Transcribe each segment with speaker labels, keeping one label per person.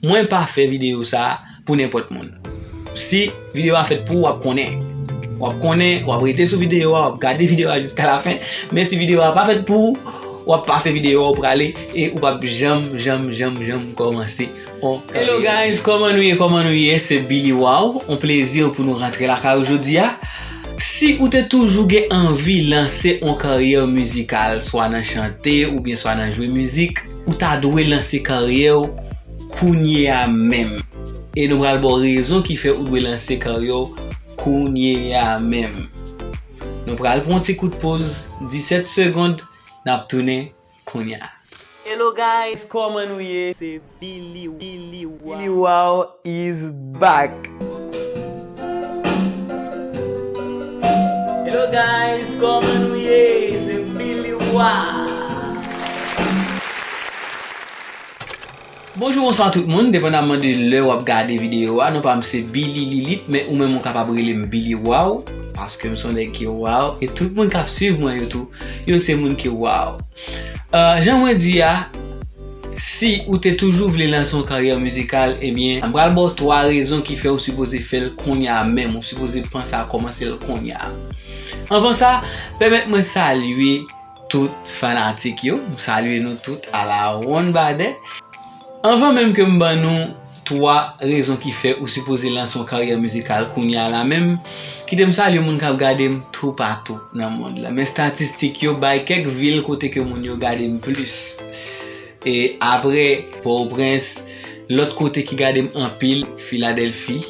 Speaker 1: Mwen pa fè video sa pou nenpòt moun. Si video a fèt pou ou wap konnen. Wap konnen, wap rete sou video a, wap gade video a jiska la fen. Men si video a pa fèt pou ou, wap pase video a ou prale e ou pap janm janm janm janm kòmanse. Hello guys, kòman nou ye, kòman nou ye, se Billy Waw, on plezi pou nou rantre lakay ou jodi a. Si ou te toujou gen anvi lanse on karyè mizikal, swa nan chante oubyen swa nan jwe mizik. Ou ta dwe lanse karyè w kounye a menm. E nou pral ba w rezon ki fè ou dwe lanse karyè w kounye a menm. Nou pral pran yon ti kout poz 17 segond nap tounen kounya. Hello guys kòman nou ye se Billy. Lili Waw is back! Hello guys koman nou ye se Billy Wah. Bonjou bonswa tout moun, depandaman de lè wap gade video a, non pam se Billy Lilith men ou menm ou kapab relem Billy Waw paskem son nèg ki waw e tout moun kap swiv mwen yo tou yo se moun ki waw. Jan mwen di a, si ou te toujou vle lanse yon karyè mizikal, ebyen, m pral ba w 3 rezon ki fè ou sipoze fè l kounye a menm, ou sipoze panse a kòmanse l kounye a. Anvan sa, pèmèt mwen salye tout fanatik yo, m salye nou tout alawonnbadè. Anvan menm ke m ban nou. 3 rezon ki fè ou sipoze lanse yon karyè mizikal kounye a la menm. Kite m salye moun kap gade m toupatou nan mond la. Men statistik yo bay kèk vil kote ke moun yo gade m plis. E apre Pòtoprens, lòt kote ki gade m anpil, Filadelfi,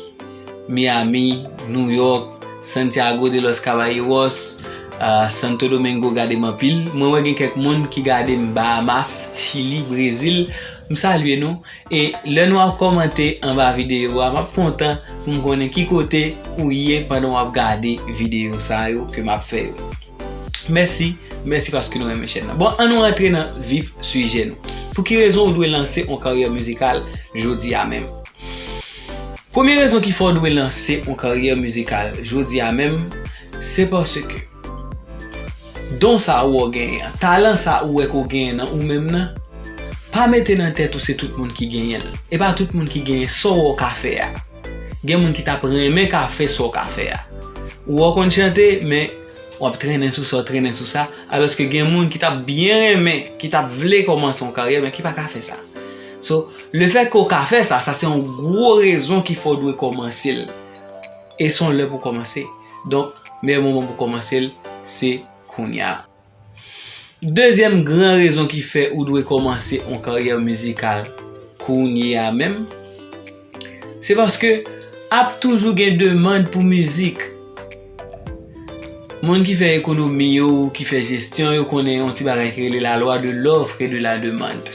Speaker 1: Miyami, Nouyòk, Santyago de lòs Kabayewòs, Santo Domengo gade m anpil. Mwen wè gen kèk moun ki gade m Bahamas, Chili, Brezil. M salye nou. E lè nou ap kòmante anba videyo a map kontan pou m konnen ki kote ou ye pandan wap gade videyo sa yo ke map fè yo. Mèsi, mèsi paske nou renmen chèn nan. Bon an nou antre nan vif sijè nou. Pou ki rezon ou dwe lanse on karyè mizikal jodi a menm? Premye rezon ki fè ou dwe lanse on karyè mizikal jodi a menm se paske. Don sa ou ò genyen an, talan sa ou wè ke w genyen nan ou menm nan, pa mete nan tèt ou se tout moun ki genyen l. E pa tout moun ki genyen sa w wè w ka fè a. Gen moun ki t ap renmen ka fè sa w ka fè a. Ou wè w konn chante, men, w ap trennen sou sa, trennen sou sa, alòske gen moun ki t ap byen renmen, ki t ap vle kòmanse yon karyè, men ki pa ka fè sa. So, lefètke w ka fè sa, sa se yon gwo rezon ki fè w dwe kòmanse l. E son lè pou kòmanse. Donk, meyè moman pou kòmanse l, se kounya. Dezyèm gran rezon ki fè ou dwe kòmanse on karyè mizikal kounya menm, se paske ap toujou gen demand pou mizik. Moun ki fè ekonomi yo, ki fè jesyon yo konnen on ti bagay ki rele la loi de l'offre et de la demande.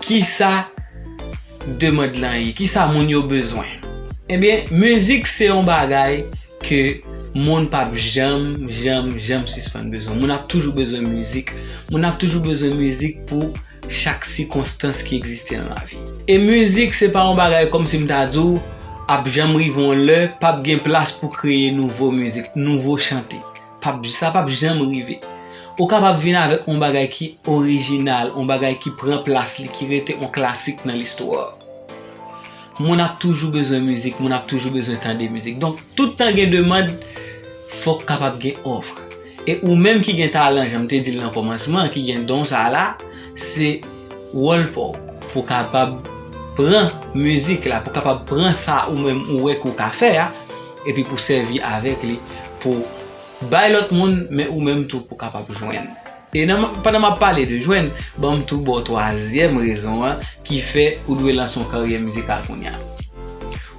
Speaker 1: Kisa demand lan ye? Kisa moun yo bezwen? Ebyen, mizik se yon bagay ke moun pap janm, janm, janm sispann bezwen. Moun ap toujou bezwen mizik. Moun ap toujou bezwen mizik pou chak sikonstans ki egziste nan lavi. E mizik se pa yon bagay kòm si m ta di w ap janm rive yon lè pap gen plas pou kreye nouvo mizik, nouvo chante. Pap, sa pap janm rive. Ou kapab vin avèk on bagay ki orijinal, on bagay ki pran plas li, ki rete on klasik nan listwa. Moun ap toujou bezwen mizik, moun ap toujou bezwen tande mizik. Donk, tout tan gen demand, fòk kapab gen òf. E ou menm ki gen talan, jan m te di l nan kòmansman, ki gen don sa a la, se wòl pa w pou kapab pran mizik la, pou kapab pran sa ou menm ou wè ke w ka fè a, Epi pou sèvi avèk li pou bay lòt moun, men ou menm tou pou kapab jwenn. E nan, pandan m ap pale de jwenn, ban m tou ba w twazyèm rezon an ki fè ou dwe lanse yon karyè mizikal kounya.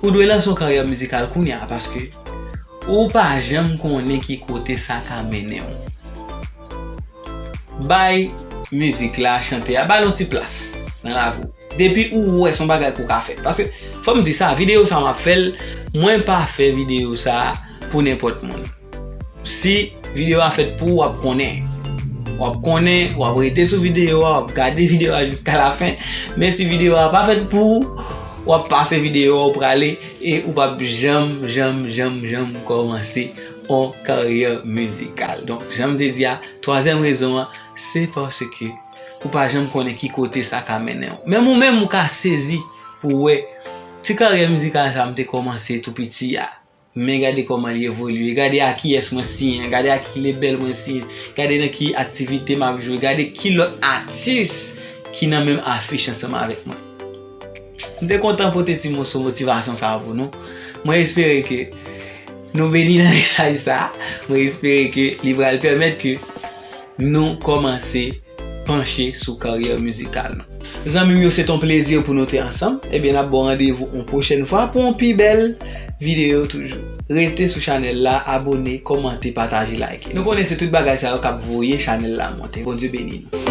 Speaker 1: Ou dwe lanse yon karyè mizikal kounya paske ou pa janm konnen ki kote sa ka mennen w. Bay mizik la, chante a, ba l yon ti plas nan lavi w. Depi ou wè son bagay kou ka fèt. Paske fòm di sa video sa map fèl mwen pa fè video sa pou nenpòt moun. Si video a fèt pou wap konnen. Wap konnen wap rete sou video a wap gade video a jiska la fen. Men si video a pa fèt pou wap pase video a ou prale e ou pap janm janm janm janm kòmanse on karyè mizikal. Donk janm te di a 3 èm rezon an se paske. ou pa janm konnen ki kote sa ka mennen w. Menm ou menm ou ka sezi pou w wè ti karyè mizikal sa m te kòmanse tou piti a, men gade kòman li evolye, gade ak kiyès mwen siyen, gade ak ki lebèl mwen siyen, gade nan ki aktivite m ap jwe, gade ki lòt atis ki nan menm afich ansanm avèk mwen. M te kontan pote ti moso motivasyon sa pou nou. Mwen espere ke nou beni nan mesaj sa. Mwen espere ke li pral pèmèt ke. nou kòmanse panche sou karyè mizikal nou. Zanmim yo se t on plezi pou nou te ansanm, ebyen nap baw randevou on pwochèn fwa pou on pi bèl video toujou. Rete sou chanèl la, abone, kòmante, pataje, like. Nou konnen se tout bagay sa yo kap voye chanèl la monte. Bondye beni nou.